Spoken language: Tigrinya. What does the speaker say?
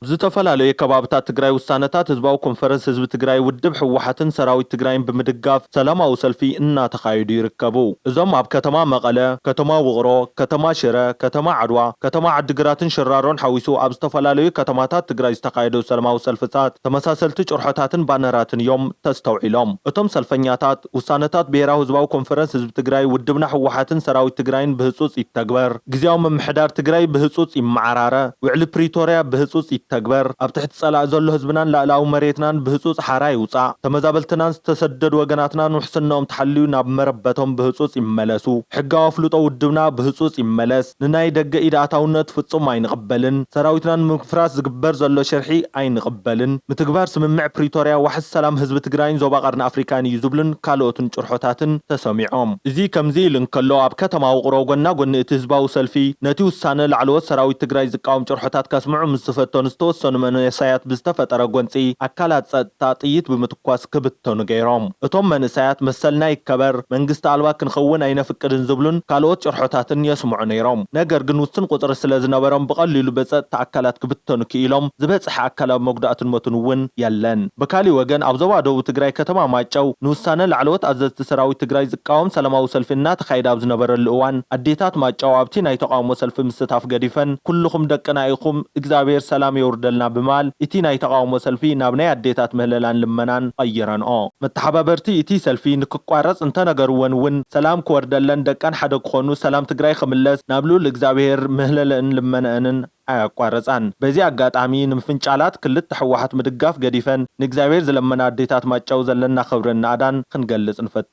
ዝተፈላለዩ ከባብታት ትግራይ ውሳነታት ህዝባዊ ኮንፈረንስ ህዝቢ ትግራይ ውድብ ህወሓትን ሰራዊት ትግራይን ብምድጋፍ ሰላማዊ ሰልፊ እናተኻየዱ ይርከቡ። እዞም ኣብ ከተማ መቐለ፣ ከተማ ውቕሮ፣ ከተማ ሽረ፣ ከተማ ዓድዋ፣ ከተማ ዓዲግራትን ሽራሮን ሓዊሱ ኣብ ዝተፈላለዩ ከተማታት ትግራይ ዝተኻየዱ ሰለማዊ ሰልፍታት ተመሳሰልቲ ጭርሖታትን ባነራትን እዮም ተስተውዒሎም። እቶም ሰልፈኛታት። ውሳነታት ብሄራዊ ህዝባዊ ኮንፈረንስ ህዝቢ ትግራይ፣ ውድብና ህወሓትን ሰራዊት ትግራይን ብህፁፅ ይተግበር። ግዝያዊ ምምሕዳር ትግራይ ብህፁፅ ይመዓራረ። ውዕሊ ፕሪቶርያ ብህፁፅ ይተግበር። ኣብ ትሕቲ ፀላኢ ዘሎ ህዝብናን ላእላኣዊ መሬትናን ብህፁፅ ሓራ ይውፃእ። ተመዛበልትናን ዝተሰደዱ ወገናትናን ውሕስነኦም ተሓልዩ ናብ መረበቶም ብህፁፅ ይመለሱ። ሕጋዊ ኣፍልጦ ውድብና ብህፁፅ ይመለስ። ንናይ ደገ ኢድ ኣታውነት ፍጹም ኣይንቕበልን፣ ሰራዊትና ንምፍራስ ዝግበር ዘሎ ሽርሒ ኣይንቕበልን፣ ምትግባር ስምምዕ ፕሪቶርያ ዋሕስ ሰላም ህዝቢ ትግራይን ዞባ ቀርኒ ኣፍሪካን እዩ ዝብሉን ካልኦትን ጭርሖታትን ተሰሚዖም። እዚ ከምዚ ኢሉ እንከሎ፣ ኣብ ከተማ ውቕሮ ጎና ጎኒ እቲ ህዝባዊ ሰልፊ ነቲ ውሳነ ላዕለዎት ሰራዊት ትግራይ ዝቃወም ጭርሖታት ከስምዑ ምስ ዝፈተኑ ዝተወሰኑ መንእሰያት ብዝተፈጠረ ጎንጺ ኣካላት ጸጥታ ጥይት ብምትኳስ ኳስ ክብተኑ ገይሮም። እቶም መንእሰያት መሰልና ይከበር፣ መንግስቲ ኣልባ ክንኸውን ኣይነፍቅድን ዝብሉን ካልኦት ጭርሖታትን የስምዑ ነይሮም። ነገር ግን ውስን ቁጽሪ ስለ ዝነበሮም ብቐሊሉ ብጸጥታ ኣካላት ክብተኑ ክኢሎም፣ ዝበጽሐ ኣካላዊ መጉዳእትን ሞትን እውን የለን። ብካሊእ ወገን ኣብ ዞባ ደቡብ ትግራይ ከተማ ማይጨው ንውሳነ ላዕለዎት ኣዘዝቲ ሰራዊት ትግራይ ዝቃወም ሰላማዊ ሰልፊ እናተኻየደ ኣብ ዝነበረሉ እዋን ኣዴታት ማይጨው ኣብቲ ናይ ተቓውሞ ሰልፊ ምስታፍ ገዲፈን ኩልኹም ደቅና ኢኹም እግዚኣብሔር ሰላም የውርደልና ብምባል ኢቲ ናይ ተቓውሞ ሰልፊ ናብ ናይ ኣዴታት ምህለላን ልመናን ቐይረንኦ። መተሓባበርቲ ኢቲ ሰልፊ ንክቋረጽ እንተነገርወን እውን ሰላም ክወርደለን ደቀን ሓደ ክኾኑ ሰላም ትግራይ ኽምለስ ናብ ልኡል እግዛብሄር ምህለለእን ልመነእንን ኣያቋረጻን። በዚ ኣጋጣሚ ንምፍንጫላት ክልተ ሕወሓት ምድጋፍ ገዲፈን ንእግዛብሄር ዝለመና ኣዴታት ማይጨው ዘለና ኽብርን ናእዳን ኽንገልጽ ንፈቱ።